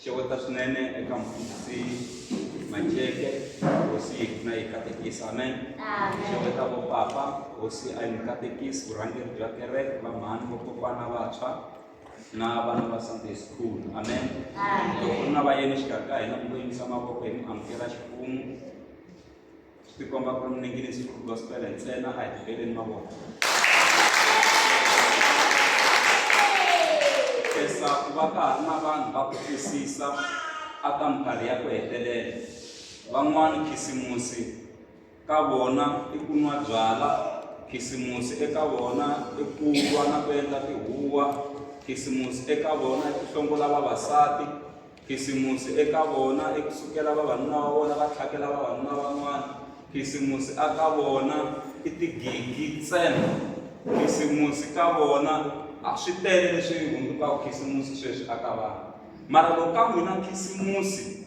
xeweta swinene eka mfundhisi Macheke hosi yi pfuna yi katekisa amen xeweta vo papa hosi a yi mi katekisi vurhangeri bya kereke vamhani vokokwana vantshwa na vana va sunday school amen loko ri na vayeni xikarhi ka hina mi ngo yimisa mavoko hi mi amukela ximfumo swi tikomba ku ri muningirisi ku gospel ntsena a hi tikeleni mavoko kesa ku va ka ha ri na vanhu va ku twisisa a ka minkarhi ya ku hetelela van'wani khisimusi ka vona i ku nwa byala khisimusi eka vona i ku lwa na ku endla tihuwa khisimusi eka vona i ku hlongola vavasati Khisimusi eka vona i ku sukela vavanuna va vona va tlhakela vavanuna van'wana. Khisimusi a ka vona i tigigi ntsena. Khisimusi ka vona a swi tele leswi hundzukaka khisimusi sweswi a ka vanhu. Mara loko ka n'wina khisimusi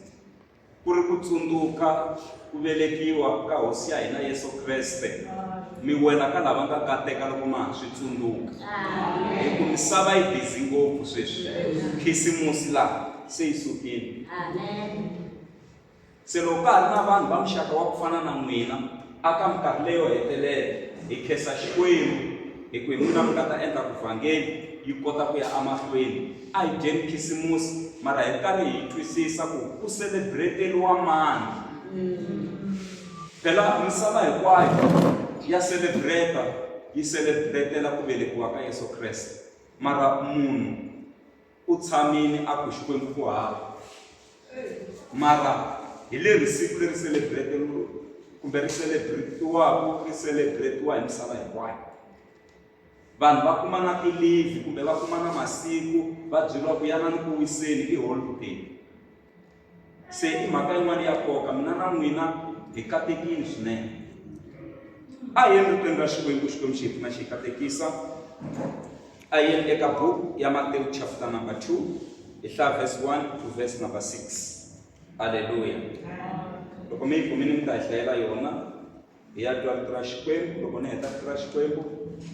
ku ri ku tsundzuka Ku velekiwa ka Hosi ya hina Yesu Kreste mi wela ka lava nga kateka loko ma ha swi tsundzuka. Hi ku misava yi bizi ngopfu sweswi, khisimusi laha se yi sukile. Se loko ka ha ri na vanhu va muxaka wa ku fana na n'wina a ka minkarhi leyo hetelela hi khensa Xikwembu hi ku hi n'wina mi nga ta endla ku vhangeli yi kota ku ya emahlweni. A hi dyeni khisimusi mara hi ri karhi hi twisisa ku ku selebreteliwa mani. Phela misava hinkwayo ya selebreta yi selebretela ku velekiwa ka Yesu Kreste, mara munhu u tshamile a ku Xikwembu ku hava. Mara hi leri siku leri selebreteliwaka kumbe ri selebretiwaka ri selebretiwa hi misava hinkwayo. Vanhu va kuma na ti-leave kumbe va kuma na masiku va byeriwa ku yanani ku wiseni i holiday. Se i mhaka yin'wana ya nkoka mina na n'wina hi katekile swinene. A hi yeni ritweni ra Xikwembu Xikwembu xi hi pfuna xi hi katekisa. A hi yeni eka buku ya Matewu chapter number two hi hlaya verse one to verse number six. Halleluya. Loko mi yi kumile mi ta hi hlayela yona. hi ya twa rito ra Xikwembu loko ni heta rito ra Xikwembu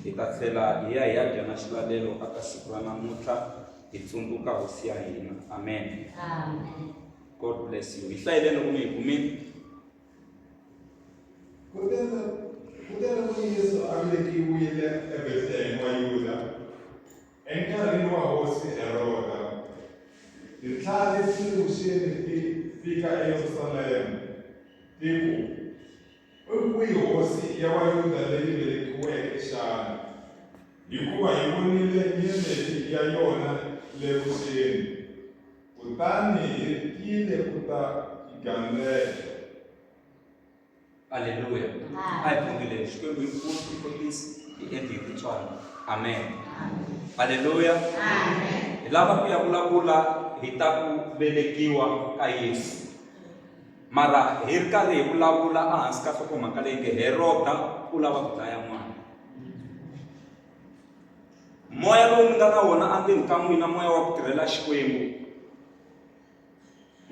hi ta tlhela hi ya hi ya dya na xilalelo a ka siku ra namuntlha hi tsundzuka hosi ya hina amen god bless you hi hlayeleni loko mi hi kumile kutani yesu a velekiwile ebethlehema wa yuda Enkarhini wa hosi Heroda, tinhla leti vuxeni ti fika eYerusalema ti ku, I kwihi hosi ya Vayuda leyi velekiweke xana? Hikuva hi vonile nyeleti ya yona le vuxeni, kutani hi tile ku ta yi gandzela. Aleluya. A hi khongeleni Xikwembu hi nkulu hi kotisi hi endli hi titswana. Amen. Aleluya. Hi lava ku ya vulavula hi ta ku velekiwa ka Yesu. Mara hi ri karhi hi vulavula ehansi ka nhlokomhaka leyi nge Heroda u lava ku dlaya n'wana. Moya lowu ni nga na wona endzeni ka n'wina moya wa ku tirhela Xikwembu.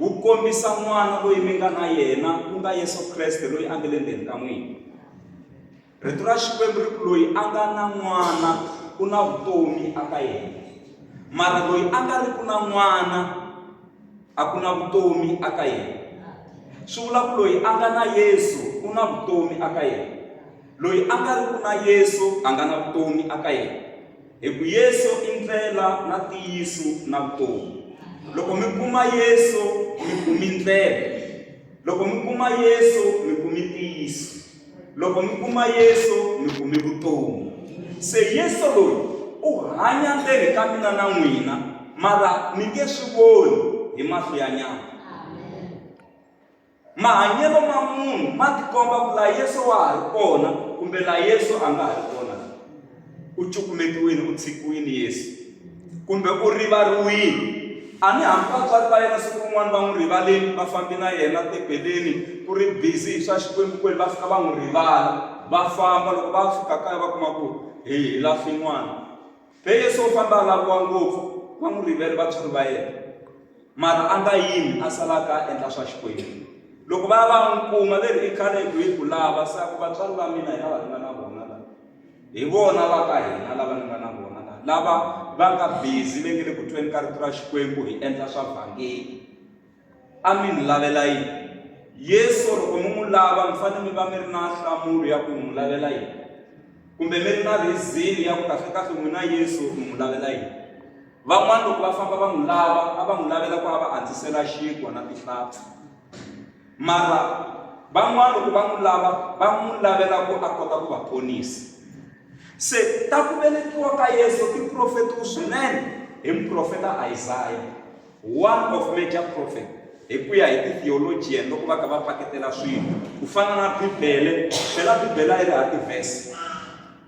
wu kombisa n'wana loyi mi nga na yena ku nga yesu kreste loyi a nga le ndzeni ka n'wina rito ra xikwembu ri ku loyi a nga na n'wana u na vutomi aka yena mara loyi a nga ri ku na n'wana a ku na vutomi aka yena swi vula ku loyi a nga na yesu u na vutomi aka yena loyi a nga ri ku na yesu a nga na vutomi aka yena Hi ku Yesu i ndlela na ntiyiso na vutomi. Loko mi kuma Yesu mi kumi ndlela. Loko mi kuma Yesu mi kumi ntiyiso. Loko mi kuma Yesu mi kumi vutomi. Se Yesu loyi u hanya ndzeni ka mina na n'wina mara mi nge swi voni hi mahlo ya nyama. Mahanyelo ma munhu ma tikomba ku la Yesu wa ha ri kona kumbe la Yesu a nga ha ri kona. U cukumetiwini, u tshikiwini Yesu, kumbe u rivariwini. A ni hambi vatswari va yena siku rin'wana va n'wi rivaleni, va fambi na yena tebeleni ku ri busy hi swa Xikwembu-kwembu, va fika va n'wi rivala. Va famba, loko va fika kaya va kuma ku hi lahlwe n'wana. Be Yesu o famba a laviwa ngopfu, va n'wi rivele vatswari va yena. Mara a nga yimi, a sala a ka a endla swa Xikwembu. Loko va ya va n'wi kuma, ve ri, I khale ku hi ku lava, se a ku, Vatswari va mina hi lava ni nga na vona la. Hi vona va ka hina lava ni nga na vona la, lava va nga bizi, ve nge le ku tweni ka rito ra Xikwembu, hi endla swa vhangeli. a mi n'wi lavela yini yesu loko mi n'wi lava mi fanele mi va mi ri na nhlamulo ya ku mi n'wi lavela yini kumbe mi ri na rizini ya ku kahlekahle n'wina yesu mi n'wi lavela yini van'wana loko va famba va n'wi lava a va n'wi lavela ku a va antswisela xinkwa na tihlampfi mara van'wana loko va n'wi lava va n'wi lavela ku a kota ku va ponisa se ta ku velekiwa ka yesu i profetiwa swinene hi muprofeta isaya One of major prophet hi ku ya hi ti-theologian loko va kha va paketela swilo ku fana na bibele phela bibele a yi ri ha tivhesi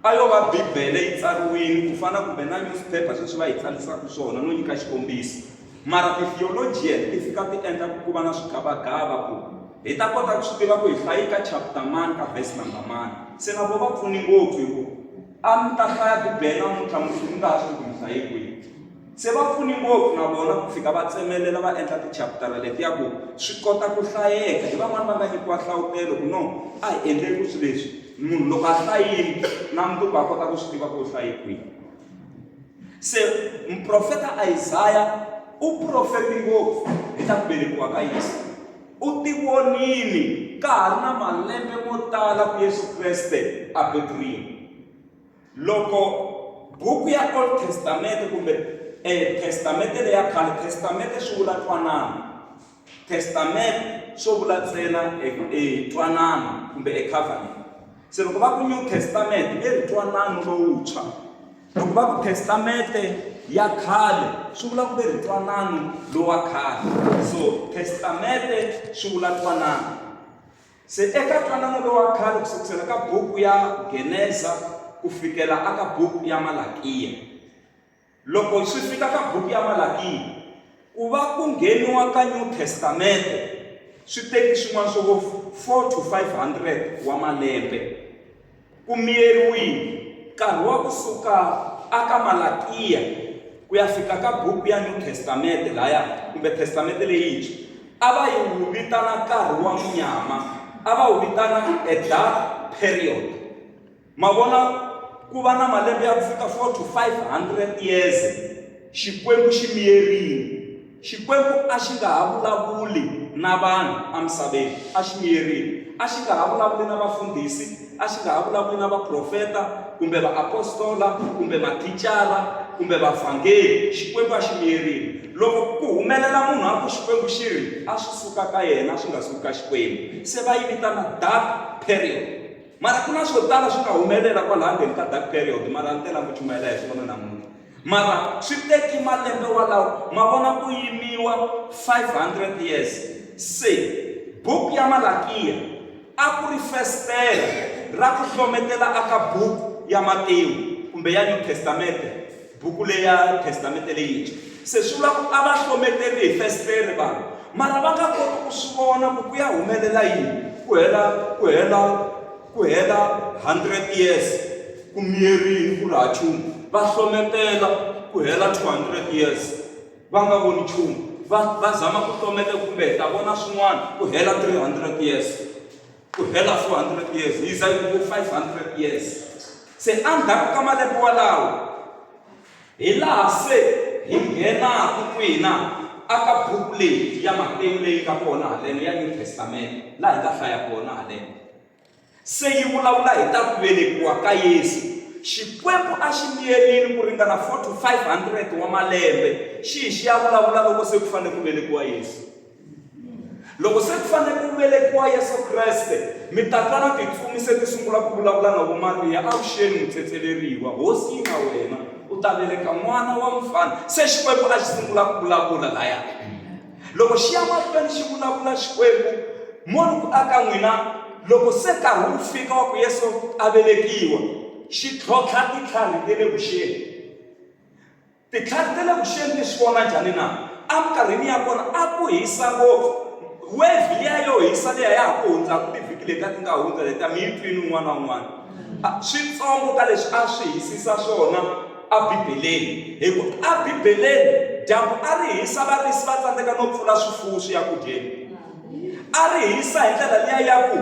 a yo va bibele yi tsariwile ku fana kumbe na newspaper sweswi va yi tsalisaka swona no nyika xikombiso mara ti-theologian ti fika ti endla ku va na swigavagava ku hi ta kota ku swi tiva ku hi hlayi ka chapter mani ka vhesi number mani se na vo va pfuni ngopfu hi ku a mi ta hlaya bibele namuntlha mundzuku mi nga ha swi tiku mi hlaye kwihi Se va pfune ngopfu na vona ku fika va tsemelela va endla tichaputara letiya ku swi kota ku hlayeka. Hi van'wana va nga nyikiwa nhlavutelo ku no a hi endleni ku swi leswi munhu loko a hlayini na mundzuku a kota ku swi tiva ku u hlaye kwihi. Se muprofeta Isaya u profeti ngopfu hi ta ku velekiwa ka Yesu. U ti vonile ka ha ri na malembe mo tala ku Yesu Kreste a beburiwa. Loko buku ya Old Testament kumbe eh, Testamente leya khale, Testamente swi vula twanano. Testament swo vula ntsena e, e twanano kumbe e covenant. Se loko va ku New Testament i ri twanano lowuntshwa. Loko va ku Testamente ya khale swi vula ku ve ri twanano lowa khale. So Testamente swi vula twanano. Se eka ntwanano lowa khale ku sukusela ka buku ya Geneza ku fikela aka buku ya Malakiya. Loko swi fika ka buku ya Malakiya, ku va ku ngheniwa ka New Testamente swi teki swin'wana swo vo 4 to 500 wa malembe. ku miyeriwile nkarhi wa kusuka aka Malakiya ku ya fika ka buku ya New Testament laya kumbe Testament leyintshwa a va yi wu vitana nkarhi wa munyama a va wu vitana a dark period mavona ku va na malembe ya ku fika 4 to 500 years xikwembu xi miyerile Xikwembu a xi nga ha vulavuli na vanhu emisaveni. A xi miyerile. A xi nga ha vulavuli na vafundhisi, a xi nga ha vulavuli na vaprofeta, kumbe vaapostola, kumbe mathicara, kumbe vavhangeri. Xikwembu a xi miyerile. Loko ku humelela munhu a ku Xikwembu xi ri, a swi suka ka yena, swi nga suki ka Xikwembu. Se va yi vitana dark period. Mara ku na swo tala swi nga humelela kwalaha ndzeni ka dark period, mara ni tela ni ku chumayela hi swona namuntlha. Mara swi teki malembe walawo ma vona ku yimiwa 500 years se book ya Malakiya a ku ri festela ra ku hlometela aka book ya Matewu kumbe ya New Testamente buku leya Testamente leyintshwa se swi vula ku a va hlometeri hi festere vanhu mara va nga koti ku swi vona ku ku ya humelela yini ku hela ku hela Ku hela 100 years ku miyerini ku ri ha chumu va hlometela ku hela 200 years va nga voni chumu va va zama ku hlometa kumbe hi ta vona swin'wana ku hela 300 years ku hela 400 years hi za yi ku 500 years se endzhaku ka malembe walawo Hi laha se hi nghenaka n'wina a ka buku leyi ya Matewu leyi nga kona haleno ya New Testament, laha hi nga hlaya kona haleno. Se yi vulavula hi ta ku velekiwa ka Yesu. Xikwembu a xi miyerile ku ringana 4 to 500 wa malembe xi hi xi ya vulavula loko se ku fanele ku velekiwa Yesu. Loko se ku fanele ku velekiwa Yesu Kreste, mitatla na tintsumi se ti sungula ku vulavula na vo Mariya, Avuxeni mutsetseleriwa, Hosi yi na wena, u ta veleka n'wana wa mfana. Se Xikwembu a xi sungula ku vulavula laya. Loko xi ya mahlweni xi vulavula Xikwembu, moni ku aka n'wina, loko se nkarhi wu fika wa ku Yesu a velekiwa, xi tlhontlha titlhari te le vuxeni. Titlhari ta le vuxeni ti swi vona njhani na? Eminkarhini ya kona a ku hisa ngopfu. Wevhi liya yo hisa liya ya ha ku hundzaka tivhiki leti a ti nga hundza letiya, mi yi twile un'wana na un'wana. Switsongo ka leswi a swi hisisa swona eBibeleni, hi ku eBibeleni dyambu a ri hisa varisi va tsandzeka no pfula swifuwo swi ya ku dyeni. A ri hisa hi ndlela liya ya ku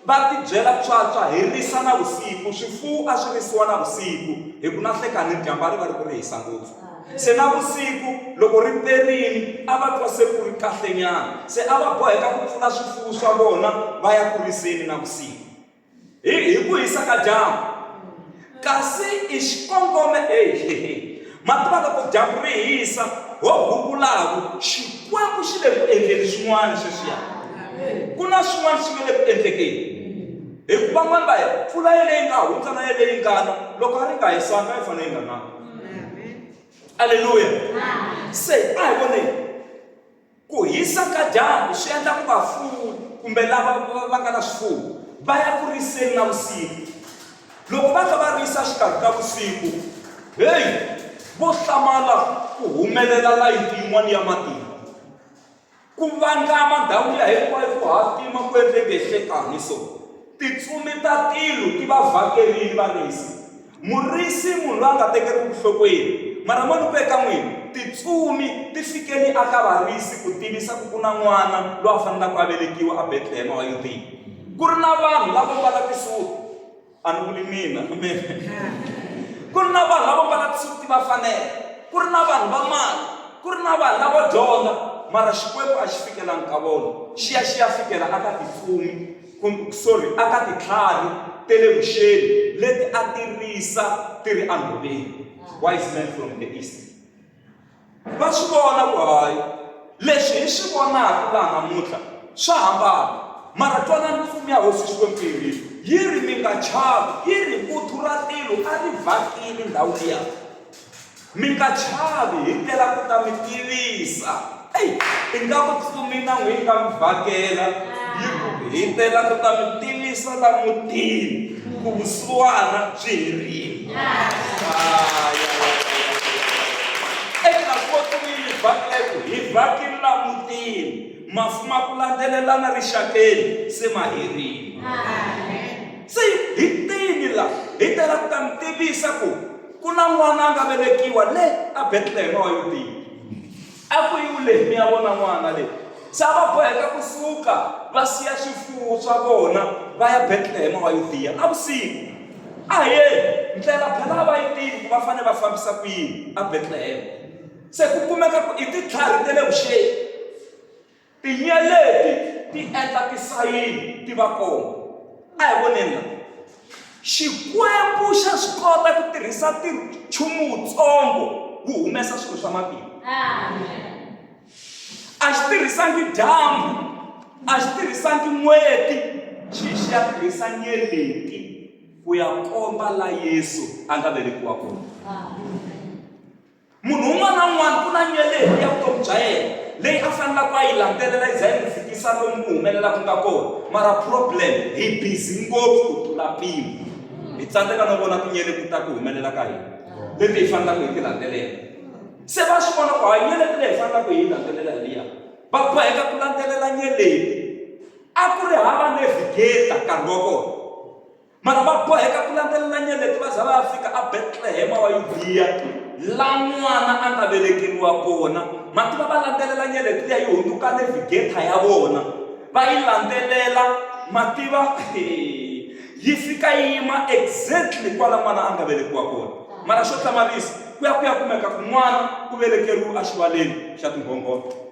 Va tibyela pswapswa hi risa navusiku, swifuwo a swi risiwa navusiku, hi ku nanhlekani dyambu a ri va ri ku ri hisa ngopfu. Se navusiku loko ri perile a va twa se ku ri kahlenyana, se a va boheka ku pfula swifuwo swa vona va ya ku riseni navusiku. Hi, hi ku hisa ka dyambu, Kasi i xikongome e hehe. Mativa loko dyambu ri hisa, ho gungulaku, Xikwembu xi le ku endleni swin'wana sweswiya. Ku na swin'wana swi nga le ku endlekeni. Hikuva van'wana va ya, pfula yeleyi nga hundza na yeleyi yi nga na, loko a ri nga hisanga, a yi fanele yi nga nanga. Aleluya! Se a hi voneni. Ku hisa ka dyambu swi endla ku vafuwi kumbe lava va nga na swifuwo va ya ku riseni na vusiku. Loko va kha va risa xikarhi ka vusiku, heyi, vo hlamala ku humelela layiti yin'wana ya matimba. Ku vangama ndhawu liya hinkwayo ku hatima ku endle ngehlekani so. Tintsumi ta tilo ti va vhakerile varisi. Murisi i munhu loyi a nga tekeriwi vuhlokweni. Mara mo ni ku eka n'wina, tintsumi ti fike ni aka varisi ku tivisa ku ku na n'wana loyi a fanelaka a velekiwa aBetlehema wa Yudiya. Ku ri na vanhu lavo mbala tisuti, a ni vuli mina, amen, ku ri na vanhu lavo mbala tisuti va fanela, ku ri na vanhu va mali, ku ri na vanhu lavo dyondza, mara Xikwembu a xi fikelanga ka vona, xi ya xi ya fikela aka tintsumi. sorry, a ka titlhari ta le vuxeni leti a ti risa ti ri enhoveni wise men from the east va swi vona ku hayi leswi hi swi vonaka laha namuntlha swa hambana mara twanani mfumo ya hosi xikwembu yi ri yi ri mi nga chavi yi ri vuthu ra tilo a ri vhakile ndhawu liya Mi nga chavi, hi tela ku ta mi tivisa. Ei, ingaku tsuminango yi nga mi vhakela, yi ku, Hi tela ku ta mi tivisa la mutini ku vusiwana byi herile. Eka ko tsumin yi vhakela ku, Hi vhakile la mutini, mafu ma ku landzelelana rixakeni se ma herile. Se hi tini la, hi tela ku ta mi tivisa ku Ku na n'wana a nga velekiwa le a Betlehema wa Yudiya. A ku yiwu leyi mi ya vona n'wana leyi. Se a va boheka ku suka va siya swifuwo swa vona va ya Betlehema wa Yudiya navusiku. A hi yeni, ndlela phela a va yi tivi ku va fane va fambisa ku yini a Betlehema. Se ku kumeka ku i titlhari te le vuxeni. Tinyeleti ti endla tisayini ti va kona. A hi voneni la. Xikwembu xa swi kota ku tirhisa nchumu wutsongo wu humesa swilo swa matimba. A xi tirhisangi dyambu, a xi tirhisangi n'weti, xi xi ya tirhisa nyeleti ku ya komba la Yesu a nga velekiwa kona. Munhu un'wana na un'wana ku na nyeleti ya vutomi bya yena leyi a fanelaka ku a yi landzelela yi za yi n'wi fikisa lomu ku humelela ku nga kona mara problem hi busy ngopfu ku tlula mpimo hi tsandzeka no vona tinyeleti ta ku humelela ka hina leti hi fanelaka hi ti landzelela se va swi vona ku hayi nyeleti leyi hi fanelaka hi yi landzelela hi liya va boheka ku landzelela nyeleti a ku ri hava navigator nkarhi wa kona Mara va boheka ku landzelela nyeleti va za va ya fika a Betlehema wa Yudiya, la n'wana a nga velekeriwa kona. Mati va va landzelela nyeleti liya yi hundzuka nevigetha ya vona, va yi landzelela mativa yi fika yi yima exactly kwala n'wana a nga velekiwa kona. Mara xo hlamarisa, ku ya ku ya kumeka ku n'wana u velekeriwe axivaleni xa tinghonghona.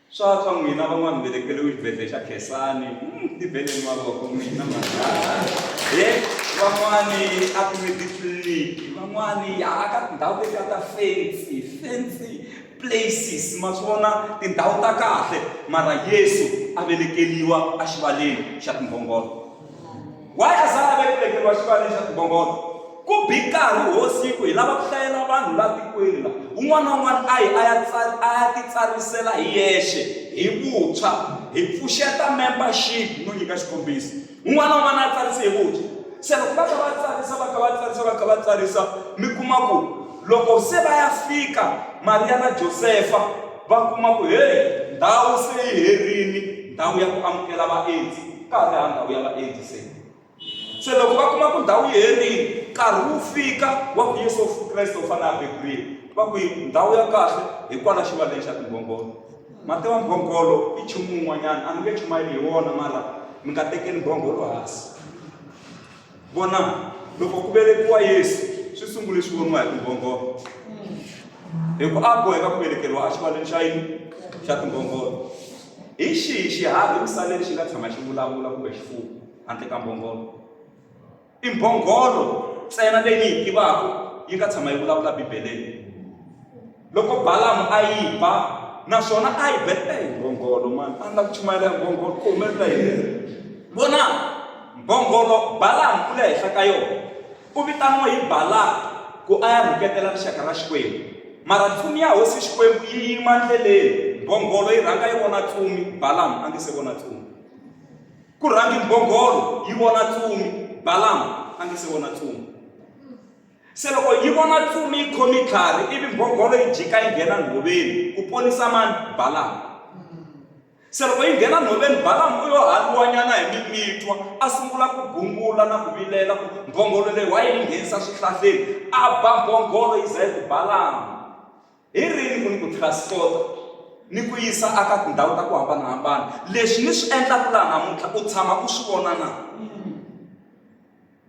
Swa swa n'wina van'wani velekeriwe xibedhlele xa khensani hmm, tiveleni mavoko n'wina manghana e van'wani a ku ni titliliniki van'wani ya a ka tindhawu letiya ta fensi fensi places ma swi vona tindhawu ta kahle mara yesu a velekeliwa exivaleni xa timbhongolo waye a sala va tivekeriwa xivandla xa timbongono ku bi nkarhi wo siku hi lava ku hlayela vanhu la tikweni la un'wana na un'wana a yi a ya a ya titsarisela hi yexe hi vuntshwa hi pfuxeta membership no nyika xikombiso un'wana na un'wana a tsarise hi vuntshwa se loko va kha va tsarisa va kha va tsarisa va kha va tsarisa mi kuma ku loko se va ya fika mariya na josefa va kuma ku heyi ndhawu se yi herini ndhawu ya ku amukela vaendzi va ha ri ha ndhawu ya vaendzi se se loko va kuma ku ndhawu yi herile nkarhi wu fika wa ku yesu kreste u fanele a beburile va ku ndhawu ya kahle hikwala xivaleni xa tingongolo mati wa mbhongolo i nchumu wun'wanyana a mi nge chumayeli hi wona mara mi nga tekeli mbhongolo hansi Vona, loko ku velekiwa Yesu swi sungule swi voniwa hi tinghongholo. Hi ku a boheka ku velekeriwa exivaleni xa yini xa tinghongholo. Hi xihi xiharhi emisaveni xi nga tshama xi vulavula kumbe xifuwo handle ka mbhongolo? I mbhongolo ntsena leyi ni yi tivaka yi nga tshama yi vulavula Bibeleni. loko balamu a yi ba naswona a yi beta hi mbhongolo mani a ni la ku chumayela hi mbhongolo ku humelela yini vona mbhongolo balamu u le henhla ka yona u vitaniwa hi balaka ku a ya rhuketela rixaka ra xikwembu mara tlumi ya hosi xikwembu yi yima ndleleni mbhongolo yi rhanga yi vona tlumi balamu a nge se vona tlumi ku rhangi mbhongolo yi vona tlumi balamu a nge se vona tlumi Se loko yi vona tsumi yi khome tlhari, ivi mbhongolo yi jika yi nghena nhoveni, ku ponisa mani? Balamu. Se loko yi nghena nhoveni, Balamu u yo handuwanyana hi mimitwa, a sungula ku gungula na ku vilela ku mbhongolo leyi wa yi n'wi nghenisa swihlahleni, a ba mbhongolo yi za yi ku, Balamu, hi rini ku ni ku transporta ni ku yisa aka tindhawu ta ku hambana-hambana? Leswi ni swi endlaku laha namuntlha u tshama u swi vona na?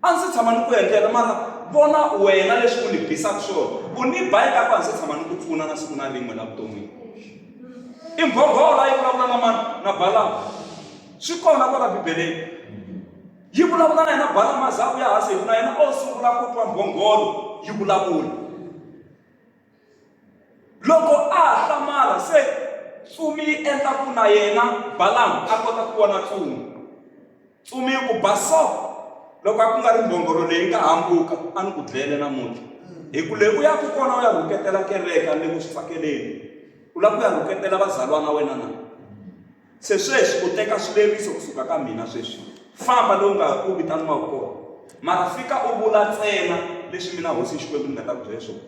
a ndzi se tshama ni ku endlela mara vona wena leswi u ni bisaka swona u ni ba eka ku a ndzi se tshama ni ku pfuna na siku na rin'we la vuton'wini i mbhonghola yi vulavula na mani na balama swi kona kwala bibeleni yi vulavula na yena balama za u ya hansi hi ku na yena o sungula ku twa mbhongolo yi vulavula Loko a ha hlamala se tsumi yi endla ku na yena Balaam a kota ku vona tsumi. Tsumi yi ku ba so loko a ku nga ri mbhongolo leyi nga hambuka a ni ku dlele namuntlha. Hi ku leyi u ya ku kona u ya rhuketela kereke a ni le ku swi tsakeleni. U lava ku ya rhuketela vazalwana wena na? Se sweswi u teka swileriso ku suka ka mina. Sweswi famba lowu nga u vitaniwaka kona, mara fika u vula ntsena leswi mina Hosi Xikwembu ni nga ta ku byela swona.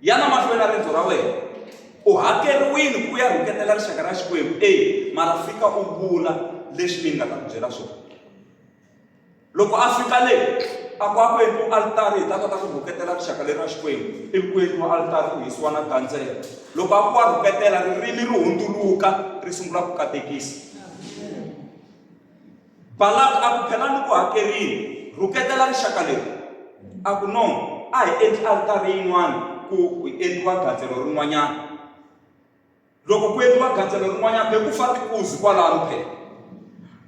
Yana mahlweni na rendzo ra wena. U hakeriwile ku ya rhuketela rixaka ra Xikwembu, e mara fika u vula leswi mina ni nga ta ku byela swona. loko a fika le a ku a ku endliwa alitari hi ta kota ku rhuketela rixaka leri ra xikwembu ivi ku endliwa alitari ku hisiwa na gandzela loko a ku a rhuketela ririmi ri hundzuluka ri sungula ku katekisa balaka a ku phela ni ku hakerile rhuketela rixaka leri a ku no a hi endli alitari yin'wana ku endliwa gandzelo rin'wanyana Loko ku endliwa gandzelo rin'wanyana be ku fa tikuzi kwalano phela.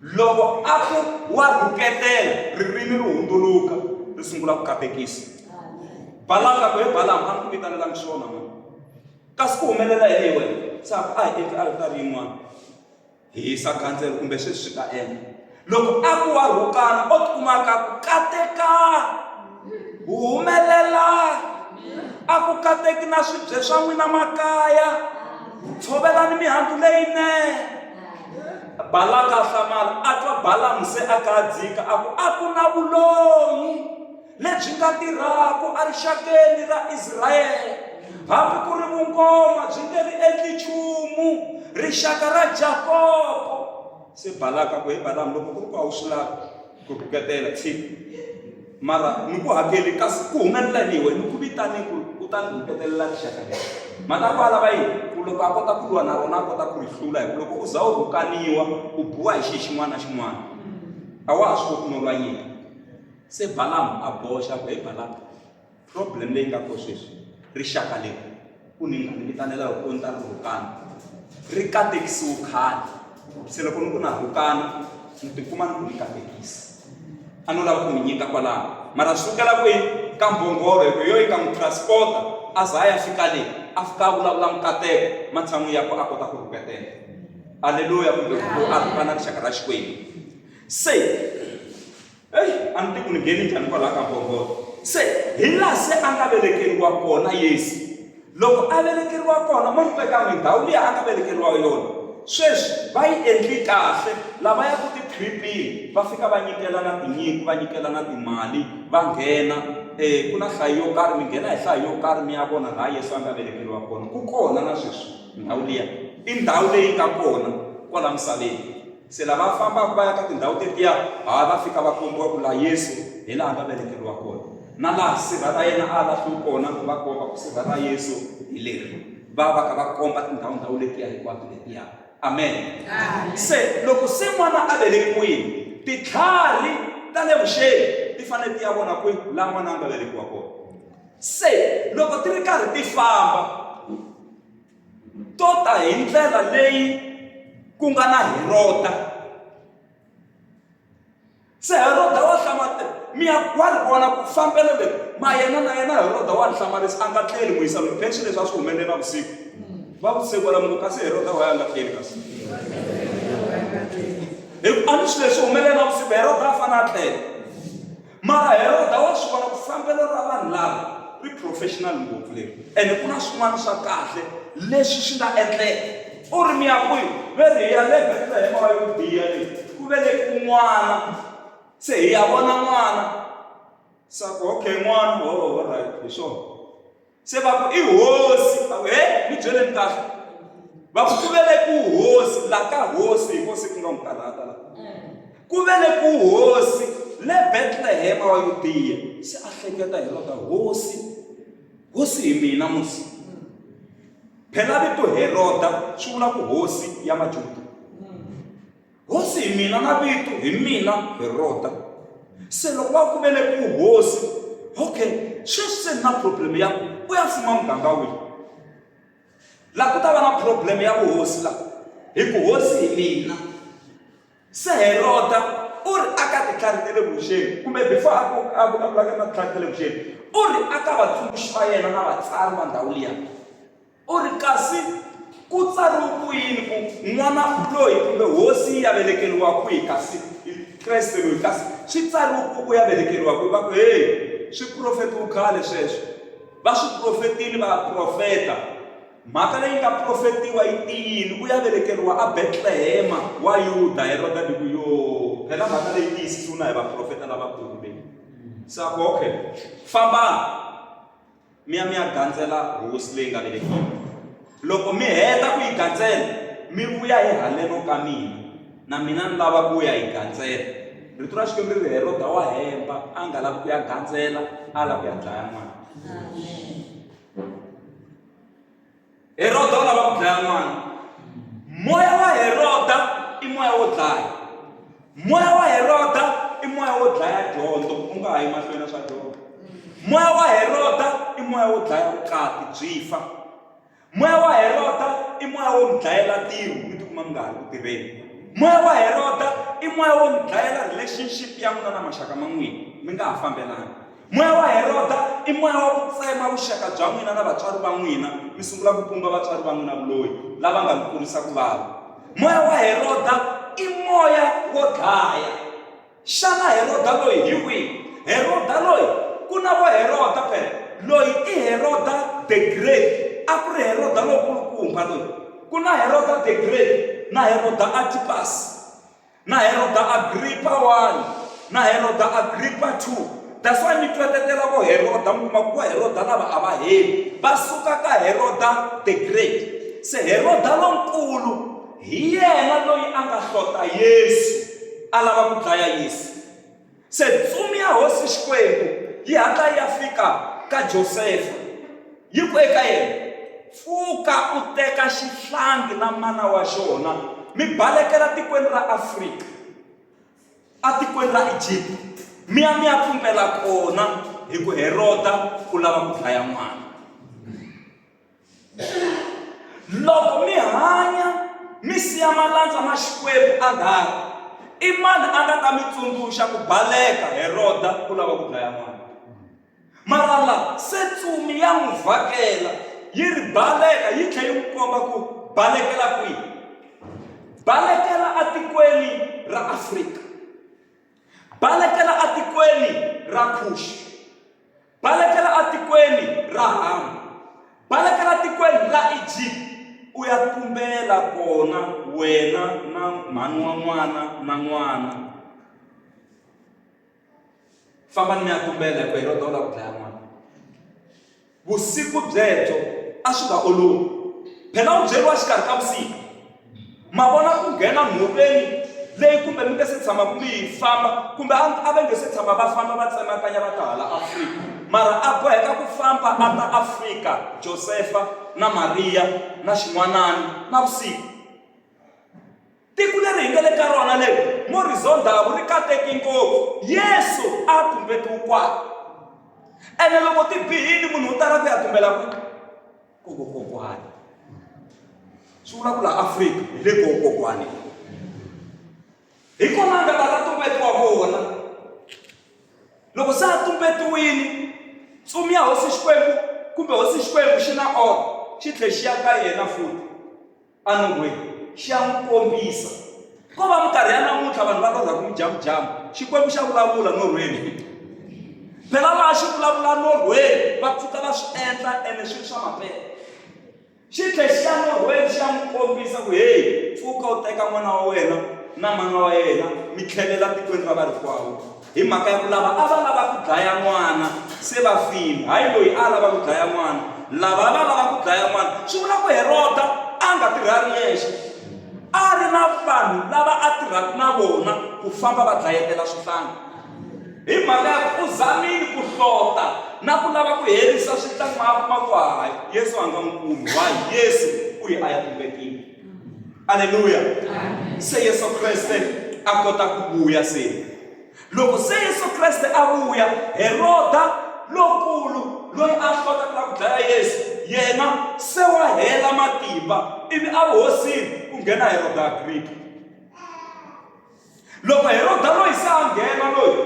Loko a ku wa rhuketela, ririmi ri hundzuluka, ri sungula ku katekisa. Balamu a ku, he Balamu, a ni ku vitanelanga swona na. Kasi ku humelela yini hi wena? Se a ku, a hi endli aritari yin'wana. Hisa gandzelo kumbe sweswi swi ta endla loko a ku wa rhukana o tikumaka ku kateka wu humelela a ku kateki na swibye swa n'wina makaya tshovelani mihandzu leyinene balaka a hlamala a twa balamu se a kadzika a ku a ku na vulonyi lebyi nga tirhaka erixakeni ra Israyele. Hambi ku ri vunkoma byi nge ri endli nchumu rixaka ra Jakopo. Se Balaka ku he Balamu loko ku ri ku a wu swi lavi ku rhuketela tshika mara ni ku hakeli kasi ku humelela ni wena ni ku vitane ku u ta ni rhuketelela rixaka leri mhaka ku alava yini ku loko a kota ku lwa na rona a kota ku ri hlula hi ku loko u za u rhukaniwa u biwa hi xihi xin'wana na xin'wana a wa ha swi koti no lwa nyika Se Balamu a boxa ku, He Balaka, problem leyi nga ko sweswi, rixaka leri u ni nga ni vitanela hi ku ni ta ri rhukana, ri katekisiwe khale. Se loko ni ku na rhukana, ni tikuma ni ku ni katekisi. A no lava ku n'wi nyika kwalaho. Mara swi sukela kwini? Ka mbhongolo, hi ku hi yo yi nga n'wi transport-a a za a ya fika le, a fika a vulavula mikateko, matshan'wini ya ku a kota ku rhuketela. Aleluya! Kumbe ku a rhukana rixaka ra Xikwembu. Se Eish, a ni ti ku ni nghene njhani kwalaha ka mbhongolo. Se, hi laha se a nga velekeriwa kona Yesu. Loko a velekeriwa kona, ma swi twa kan'we ndhawu liya a nga velekeriwa yona. Sweswi, va yi endli kahle, lava ya ku ti-trip-ini va fika va nyikelana tinyiko, va nyikelana timali, va nghena, e, ku na hlayo yo karhi, mi nghena hi hlayo yo karhi mi ya vona laha Yesu a nga velekeriwa kona. Ku kona na sweswi ndhawu liya. I ndhawu leyi nga kona kwala misaveni. Se lava va fambaka va ya ka tindhawu tetiya, ha va fika va kombiwa ku laha Yesu hi laha nga velekeriwa kona, na laha sirha ra yena a lahliwe kona, va komba ku sirha ra Yesu hi leri. Va va ka va komba tindhawu ndhawu letiya hinkwato letiya. Amen. Amen. Se loko se n'wana a velekiwile, titlhari ta le vuxeni ti fanele ti ya vona kwihi laha n'wana a nga velekiwa kona. Se loko ti ri karhi ti famba to ta hi ndlela leyi ku nga na heroda se heroda wa hlamate mi ya wa ri vona ku fambelo leri ma yena na yena heroda wa ni hlamarisa a nga tleli ku yisa loyi pension leswi a swi humelele navusiku va vutise kwala mungu kasi heroda wa ya nga tleli kasi hikuva a ni swilo leswi humelele navusiku heroda a fanele a tlela Mara Heroda wa swi vona ku fambelo ra vanhu lava ri professional ngopfu leri ene ku na swin'wana swa kahle leswi swi nga endleka. U ri, Mi ya kwihi? Va ri, Hi ya le Betlehema wa Yudiya le ku velekiwe n'wana. Se hi ya vona n'wana. Se a ku, Okay, n'wana. Hoo, alright, hi swona. se va ku i hosi va ku he ni byeleni kahle va ku ku vele ku hosi la ka hosi hi kosi ku nga n'wi karhata la ku vele ku hosi le betlehema wa yudiya se a hleketa hi lota hosi hosi hi mina musi phela vito heroda swi vula ku hosi ya majuda Hosi hi mina na vito hi mina hi rota se loko va ku vele ku hosi okay sweswi se ni na problem ya ku u ya fuma muganga wihi laha ku ta va na problem ya vuhosi laha hi ku hosi hi mina se heroda u ri a ka titlhari ta le vuxeni kumbe before a ku a vulavulaka na titlhari ta le vuxeni u ri a ka vatsundzuxi va yena na vatsari va ndhawu liya U ri, Kasi ku tsariwe ku yini ku, N'wana u loyi, kumbe, Hosi yi ya velekeriwa kwihi? Kasi, i, Kreste loyi. Kasi swi tsariwe ku, U ya velekeriwa kwihi? Va ku, He! Swi profetiwe khale sweswo. Va swi profetile vaprofeta. Mhaka leyi nga profetiwa yi tiyile. U ya velekeriwa aBetlehema wa Yuda. Heroda ni ku, Yoo! Phela mhaka leyi tiyisisiwe na hi vaprofeta lavakulu leyi. Se a ku, Okay, fambani. mi ya mi ya gandzela hosi leyi nga velekiwa loko mi heta ku yi gandzela mi vuya hi haleno ka mina na mina ni lava ku ya yi gandzela rito ra xikwembu ri ri heroda wa hemba a nga lavi ku ya gandzela a lava ku ya dlaya n'wana Heroda u lava ku dlaya n'wana. Moya wa Heroda i moya wo dlaya. Moya wa Heroda i moya wo dlaya dyondzo, u nga ha yi mahlweni na swa dyondzo. Moya wa Heroda i moya wo dlaya vukati byi fa. Moya wa Heroda i moya wo mi dlayela tiro mi tikuma mi nga ha ri ku tirheni. Moya wa Heroda i moya wo mi dlayela relationship ya n'wina na maxaka ma n'wina mi nga ha fambelani. Moya wa Heroda i moya wa ku tsema vuxaka bya n'wina na vatswari va n'wina, mi sungula ku pumba vatswari va n'wina vuloyi, lava nga mi kurisa ku vava. Moya wa Heroda i moya wo dlaya. Xana Heroda loyi hi wihi? Heroda loyi, ku na vo Heroda phela. Loyi i Heroda the Great, a ku ri Heroda lonkulukumba loyi. Ku na Heroda the Great na Heroda Antipasi. Na Heroda Agripa I na Heroda Agripa ii, That's why mi twetetela vo Heroda, mi kuma ku vo Heroda lava a va heli, va suka ka Heroda the Great. Se Heroda Lonkulu hi yena loyi a nga hlota Yesu, a lava ku dlaya Yesu. Se ntsumi ya Hosi Xikwembu yi hatla yi ya fika ka Josefa, yi ku eka yena, Pfuka u teka xihlangi na mana wa xona, mi balekela tikweni ra Afrika, atikweni ra Egipta, mi ya mi ya pfumpela kona, hi ku Heroda u lava ku dlaya n'wana. loko mi hanya mi siya malandza ma xikwembu a ngari i mani a nga ta mi tsundzuxa ku baleka heroda ku lava ku dlaya n'wana mara la se tsumi ya n'wi vhakela yi ri baleka yi tlhe yi n'wi komba ku balekela kwihi balekela atikweni ra afrika balekela atikweni ra khuxi Balekela atikweni ra Hamu, balekela tikweni ra Egipta, u ya tumbela kona wena na mhani wa n'wana na n'wana. Famba ni mi ya tumbela hikuva Heroda u lava ku dlaya n'wana. Vusiku byebyo a swi nga olovi, phela u byeriwa xikarhi ka vusiku. Ma vona ku nghena nhoveni leyi kumbe mi nge se tshama ku mi yi famba kumbe a a va nge se tshama va famba va tsemakanya va ta hala Afrika mara a boheka ku famba a ta Afrika Josefa na Mariya na xin'wanani na vusiku tiko leri hi nga le ka rona leri morizondavu ri kateki ngopfu yesu a tumbetiwe kwala ene loko ti bihile munhu u tala ku ya tumbela kwini ku kokokwana swi vula ku la afrika hi le kokokwane hi kona nga la ta tumbetiwa kona loko se a tumbetiwile tsumi ya hosi xikwembu kumbe hosi xikwembu xi na ona xi tlhe xi ya ka yena futi anyway xi ya n'wi kombisa ko va minkarhi ya namuntlha vanhu va lorha ku mujamujamu xikwembu xa vulavula norhweni phela laha xi vulavula norhweni va pfuka va swi endla ene swi ri swa mampela xi tlhe xi ya norhweni xi ya n'wi kombisa ku heyi pfuka u teka n'wana wa wena na mana wa yena mi tlhelela tikweni ra varikwawo Hi mhaka ya ku lava a va lava ku dlaya n'wana se va file, hayi loyi a lava ku dlaya n'wana. Lava a va lava ku dlaya n'wana, swi vula ku Heroda a nga tirhi a ri yexe, a ri na vanhu lava a tirhaka na vona ku famba va dlayetela swihlangi. Hi mhaka ya ku u zamile ku hlota na ku lava ku herisa swihlangi ma a kuma ku hayi, Yesu a nga n'wi kumi. Why? Yesu u ye a ya ku vekeni. aleluya se yesu kreste a kota ku vuya se loko se yesu kreste a vuya heroda lokulu loyi a hlota ku lava ku dlaya yesu yena se wa hela matimba ivi a vuhosini ku nghena heroda agriki Loko Heroda loyi se a nghena loyi,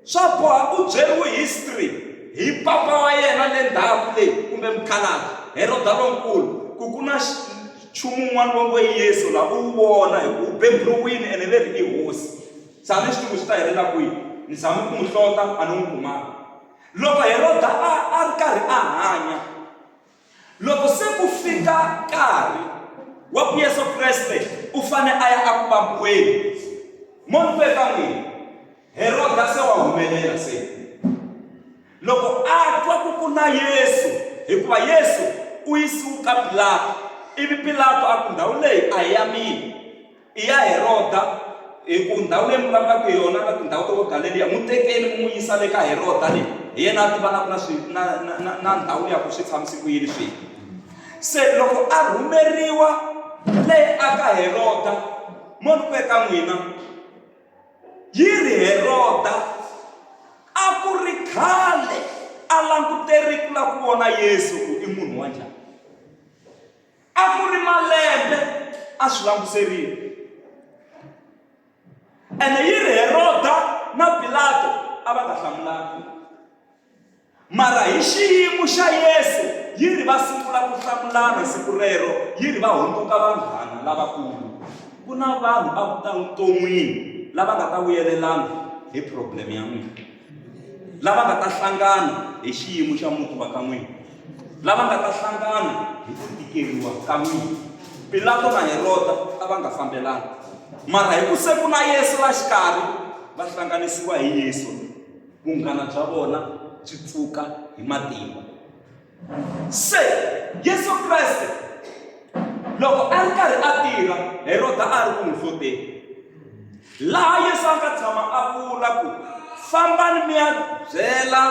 swa boha u byeriwe history hi papa wa yena le ndhaku leyi kumbe mukhalabye, Heroda Lonkulu, ku ku na nchumu wun'wana va ngo i Yesu la, u wu vona hi ku u beburiwile ene ve ri i hosi. Se a ni swi tivi ku swi ta helela kwihi. Ni zame ku n'wi hlota a ni n'wi kumanga. Loko Heroda a a ri karhi a hanya. Loko se ku fika nkarhi wa ku Yesu Kreste u fane a ya aku vambiweni, mo ni ku eka n'wina, Heroda se wa humelela se. Loko a twa ku ku na Yesu, hikuva Yesu u yisiwu ka Pilato, ivi Pilato a ku ndhawu leyi a hi ya mina. I ya Heroda, hi ku ndhawu leyi mi vulavulaka hi yona na tindhawu ta vo Galeliya. N'wi tekeni mi n'wi yisa le ka Heroda le hi yena a tivanaka na swi, na, na, na, na ndhawu liya ku swi tshamise ku yini swilo. Se loko a rhumeriwa le aka Heroda, mo ni ku eka n'wina, yi ri Heroda a ku ri khale a languterile ku lava ku vona Yesu ku i munhu wa njhani. A ku ri malembe a swi languserile. Ene yi ri Heroda na Pilato a va nga hlamulanga. Mara hi xiyimo xa Yesu yi ri va sungula ku hlamulana siku rero yi ri va hundzuka vanghana lavakulu. Ku na vanhu a vuton'wini lava nga ta vuyelelana hi problem ya n'wina. lava nga ta hlangana hi xiyimo xa muti wa ka n'wina lava nga ta hlangana hi ku tikeriwa ka n'wina pilato na heroda a va nga fambelanga mara hi ku se ku na yesu la xikarhi va hlanganisiwa hi yesu vunghana bya vona byi pfuka hi matimba se yesu kreste loko a ri karhi a tirha heroda a ri ku n'wi hloteni laha yesu a nga tshama a vula ku fambani mi ya byela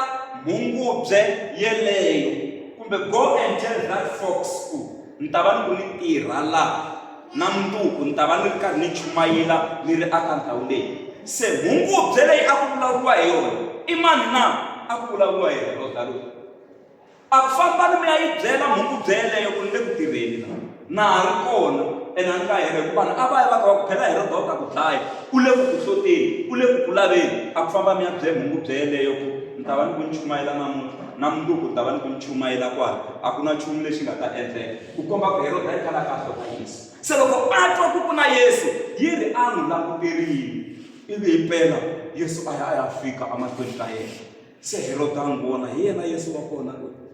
mhungubye yeleyo kumbe go and tell that fox ku ni ta va ni ku ni tirha laha na munduku ni ta va ni ri karhi ni chumayela ni ri aka ndhawu leyi se mhungubye leyi a ku vulavuriwa hi yona i mani na a ku vulavuriwa hi heroda loyi a ku fambani mi ya yi byela mhukubye yeleyo ku ni le ku tirheni la na ha ri kona ene a ni nga hera hikuva vanhu a va ya va kha va ku phela hi rodo ta ku dlaya u le ku ku hloteni u le ku ku laveni a ku famba mi ya byela mhukubye yeleyo ku ni ta va ni ku ni chumayela namuntlha na mundzuku ni ta va ni ku ni chumayela kwala a ku na nchumu lexi nga ta endleka ku komba ku heroda yi kala ka hlota yesu se loko a twa ku ku na yesu yi ri a n'wi languterile ivi hi mpela yesu a ya a ya fika emahlweni ka yena Se Heroda a n'wi vona, hi yena Yesu wa kona loyi.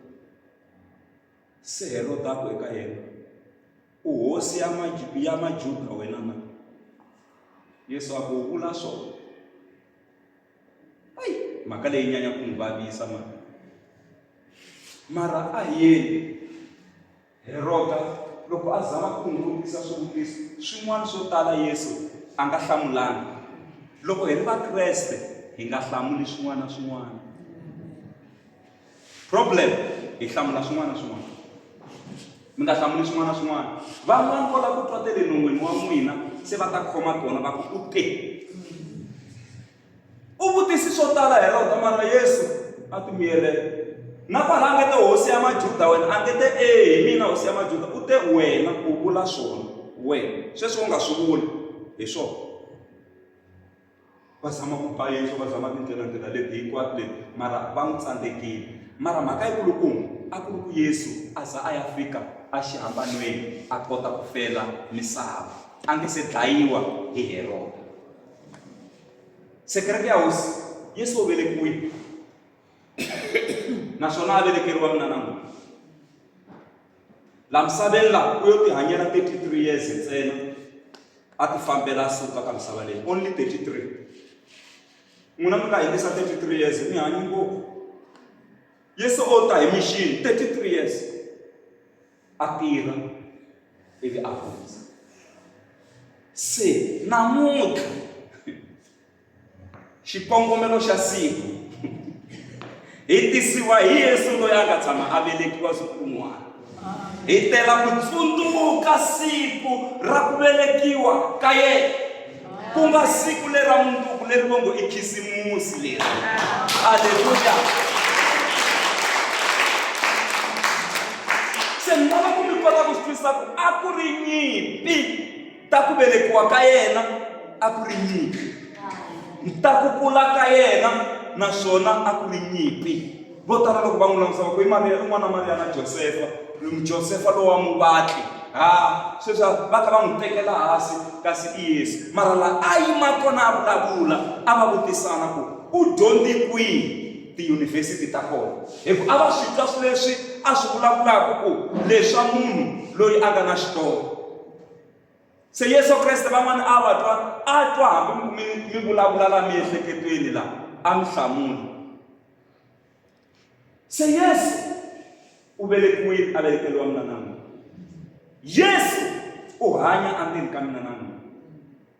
Se Heroda a ku eka yena, U hosi ya ya Majuda wena na? Yesu a ku, U vula swona. Ayi, mhaka leyi nyanya ku n'wi vavisa mara. Mara a hi yeni. Heroda loko a zama ku n'wi vutisa swivutiso swin'wana swo tala Yesu a nga hlamulanga. Loko hi ri Vakreste hi nga hlamuli swin'wana na swin'wana. Problem hi hlamula swin'wana na swin'wana. Mi nga hlamuli swin'wana na swin'wana. Van'wana vo lava ku twa te le non'wini wa n'wina se va ta khoma tona va ku u te. U vutisi swo tala Heroda, mara Yesu a ti miyelela. Na kwala a nge te hosi ya Majuda wena, a nge te, E, hi mina hosi ya Majuda. U te, Wena u vula swona. Wena. Sweswi u nga swi vuli. Hi swona. va zama ku ba yesu va zama tindlela ndlela leti hinkwato leti mara va n'wi tsandzekile mara mhaka yikulukumba a ku ri ku yesu a za a ya fika exihambanweni a kota ku fela misava a nge se dlayiwa hi heroda sekireke ya hosi yesu u velekiwile naswona a velekeriwa mina namuntlha la misaveni la u yo tihanyela 33 years ntsena a ti fambela a suka ka misava leyi only 33 n'wina mi nga hindisa 33 years mi hanyi ngopfu yesu o ta hi mixini 33 years a tirha ivi a hundza se namuntlha xikongomelo xa siku hi tisiwa hi yesu loyi a nga tshama a velekiwa siku rin'wana hi tela ku tsundzuka siku ra ku velekiwa ka yena ku nga siku lera munduku leri va ngo i khisimusi leri aleluya se ni lava ku mi kota ku swi twisisa ku a ku ri nyimpi ta ku velekiwa ka yena a ku ri nyimpi ta ku kula ka yena naswona a ku ri nyimpi Vo tala loko va n'wi langutisa va ku i Mariya, i n'wana wa Mariya na Josefa, Josefa lowa muvatli. Ha, sweswi va kha va n'wi tekela hansi, kasi i Yesu. Mara laha a yima kona a vulavula, a va vutisana ku, U dyondze kwihi? Tiyunivhesiti ta kona. Hikuva a va swi twa swilo leswi a swi vulavulaka ku, leswa munhu loyi a nga na xitonga. Se Yesu Kreste van'wana a va twa, a twa hambi mi vulavula laha miehleketweni laha, a mi hlamula. Se Yesu u velekiwile a velekeriwa mina na n'wina Yesu u hanya endzeni ka mina na n'wina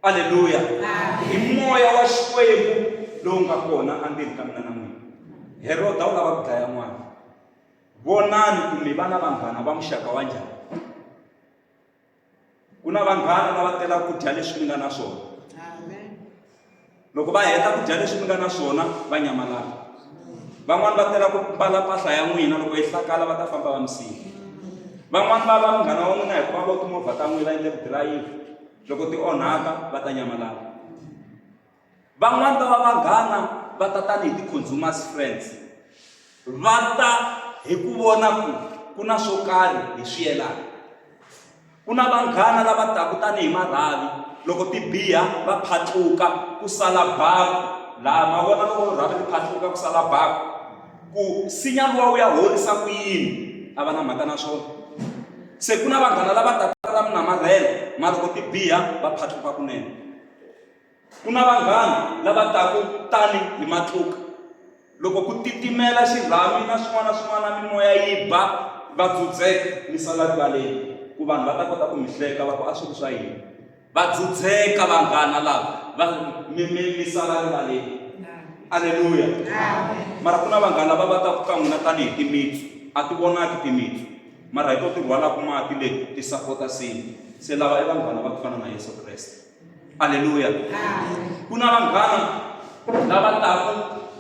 aleluya hi moya wa xikwembu lowu nga kona endzeni ka mina na n'wina heroda u lava ku dlaya n'wana vonani ku mi va na vanghana va muxaka wa njhani ku na vanghana lava telaka ku dya leswi mi nga na swona loko va heta ku dya leswi mi nga na swona va nyamalala van'wani va tela ku mbala mpahla ya n'wina loko yi hlakala va ta famba va mi siya van'wani va va munghana wa n'wina hikuva vo timovha ta n'wina va endle ku dirayivha loko ti onhaka va ta nyamalala Van'wana va va vanghana va ta tanihi ti-consumers friends va ta hi ku vona ku ku na swo karhi hi swi yelana ku na vanghana lava taka tanihi marhavi loko ti biha va phatluka ku sala baku laha ma vona loko rhavi ri phatluka ku sala baku ku sinya luwa wu ya horisa ku yini a va na mhaka na swona se ku na vanghana lava taka ra mi namarhela ma loko ti biha va phatluka kunene Ku na vanghana lava taku tani hi matluka. Loko ku titimela xirhami na swin'wana na swin'wana mimoya yi ba, va dzudzeka mi sala rivaleni ku vanhu va ta kota ku mi hleka va ku a swi ri swa yini. Va dzudzeka vanghana lava va mi mi mi sala rivaleni. Aleluya. Mara ku na vanghana lava va taku ka n'wina tani hi timitsu, a ti vonaki timitsu mara hi to ti rhwalaku mati leti ti sapota nsimu. Se lava i vanghana va ku fana na Yesu Kreste. aleluya ku na vanghana lava taka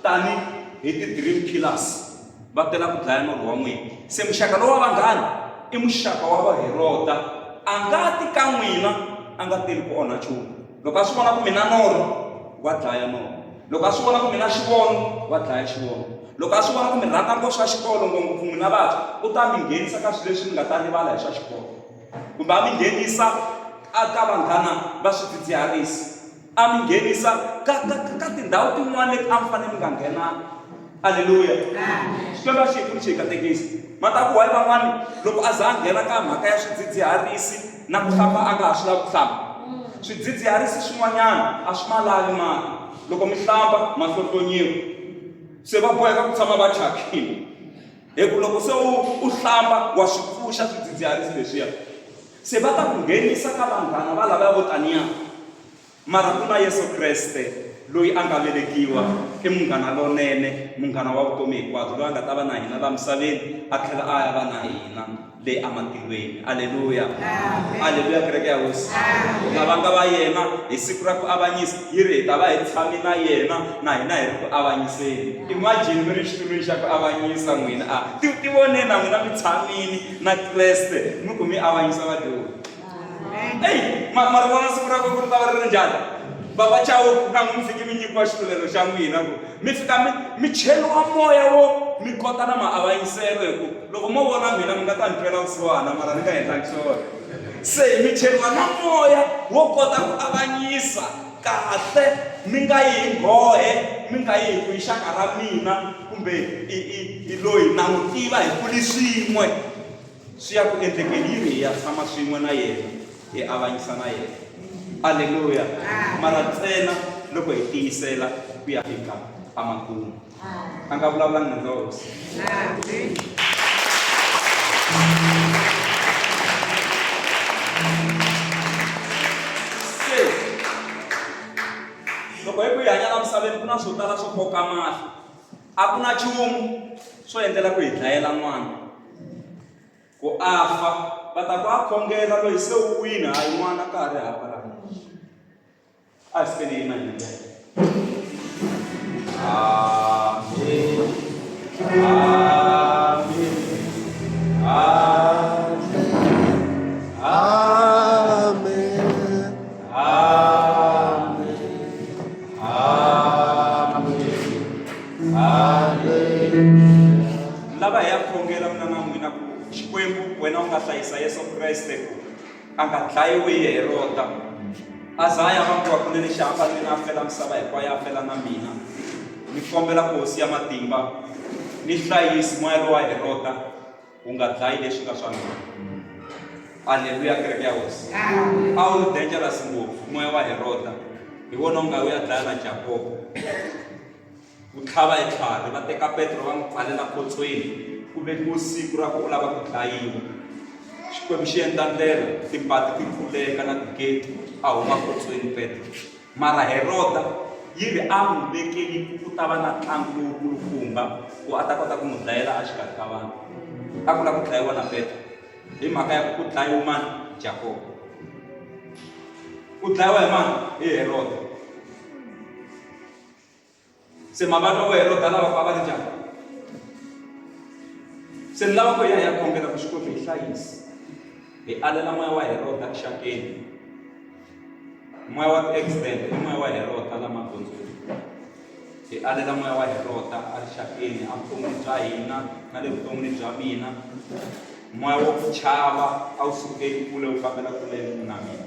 tani hi ti-dream killers va tela ku dlaya norho wa n'wina se muxaka lowa vanghana i muxaka wa vaherota a nga ti ka n'wina a nga teli ku onha nchumu loko a swi vona ku mina norho wa dlaya norho loko a swi vona ku mina xivono wa dlaya xivono loko a swi vona ku mi rhandza ngopfu swa xikolo ngopfu n'wina vantshwa u ta mi nghenisa ka swilo leswi mi nga ta rivala hi swa xikolo kumbe a mi nghenisa a ka vanghana va swidzidziharisi a mi nghenisa ka ka ka tindhawu tin'wana leti a mi fanele mi nga nghenanga aleluya xikwembu a xi hi pfuni xi hi katekisa ma ta ku wayi van'wani loko a za a nghena ka mhaka ya swidzidziharisi na ku hlamba a nga ha swi lavi ku hlamba swidzidziharisi swin'wanyana a swi ma lavi mati loko mi hlamba mahlohlonyiwa se va boheka ku tshama va thyakile Hi ku loko se u u hlamba wa swi pfuxa swidzidziharisi leswiya se va ta ku nghenisa ka vanghana va lavaya vo taniya mara ku na Yesu Kreste loyi a nga velekiwa i munghana lonene munghana wa vutomi hinkwabyo loyi a nga ta va na hina laha misaveni a tlhela a ya va na hina le ematilweni. Aleluya! Aleluya, kereke ya Hosi! Na vanga va yena, hi siku ra ku avanyisa, yi ri hi ta va hi tshame na yena, na hina hi ri ku avanyiseni. Imagine mi ri exitulwini xa ku avanyisa n'wina a ti tivoneni na n'wina mi tshamile na Kreste mi ku mi avanyisa vadyohi. eyi ma ma ri vona siku ra ku ku ri ta va ri ri njhani bava chawuku na n'wi mi fike mi nyikiwa xitlulelo xa n'wina ku mi fika mi mi cheriwa moya wo mi kota na maavanyiselo hi ku loko mo vona mina mi nga ta ni twela vusiwana mara ni nga endlangi swona se mi cheriwa na moya wo kota ku avanyisa kahle mi nga yi hi nghohe mi nga yi hi ku yi xaka ra mina kumbe i i i loyi na n'wi tiva hi kuli swin'we swi ya ku endlekeni yi ri hi ya tshama swin'we na yena hi avanyisa na yena aleluya mara ntsena loko hi tiyisela ku ya fika amakumu a nga vulavulanga nandza wa hosi loko hi ku yi hanya na misaveni ku na swo tala swo koka mahlo a ku na nchumu swo endlela ku hi dlayela n'wana ku a fa va ta ku a khongela loyi se u wini hayi n'wana ka ha ri hava ra a hi fikeni yina hi ndlela lava hi ya khongela mina na n'wina ku xikwembu wena u nga hlayisa yesu kreste ku a nga dlayiwi hi herota a za a ya vangiwa kunene xi hamba mina a fela misava hinkwayo a fela na mina ni kombela ku hosi ya matimba ni hlayisi moya lowa herota u nga dlayi leswi nga swa mina aleluya kereke ya hosi a wu ri dangerous ngopfu moya wa heroda hi wona u nga u ya dlaya na jakobo ku tlhava hi tlhari va teka petro va n'wi pfalela potsweni ku vekiwe siku ra ku u lava ku dlayiwa xikwembu xi endla ndlela timpati ti pfuleka na tigeti a huma potsweni petro Mara Heroda yi ri a n'wi vekeli ku ku ta va na ntlangu lowukulukumba ku a ta kota ku n'wi dlayela exikarhi ka vanhu a ku lava ku dlayiwa na petro hi mhaka ya ku ku dlayiwe mani jakobo u dlayiwa hi mani hi heroda se mavatwa vo heroda lava ku a va ri njhani se ni lava ku hi ya hi ya kombela ku xikwembu hi hlayisi hi alela moya wa heroda xakeni moya wa ti-accident i moya wa heroda la magondzweni hi alela moya wa heroda a ri xakeni a vuton'wini bya hina na le vuton'wini bya mina moya wa ku chava a wu sukeli kule wu fambela kule na mina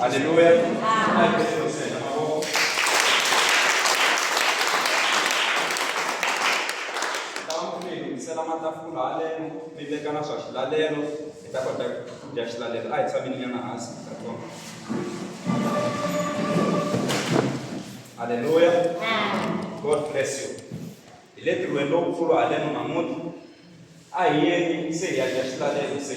Haleluya. Lunghisela matafula haleno mi veka na swa xilalelo hi ta kota ku dya xilalelo a hi tshamini nyana hansi ta tona halleluya god bless you hi le ntirhweni lowukulu haleno namuntlha a hi yeni se hi ya dya xilalelo se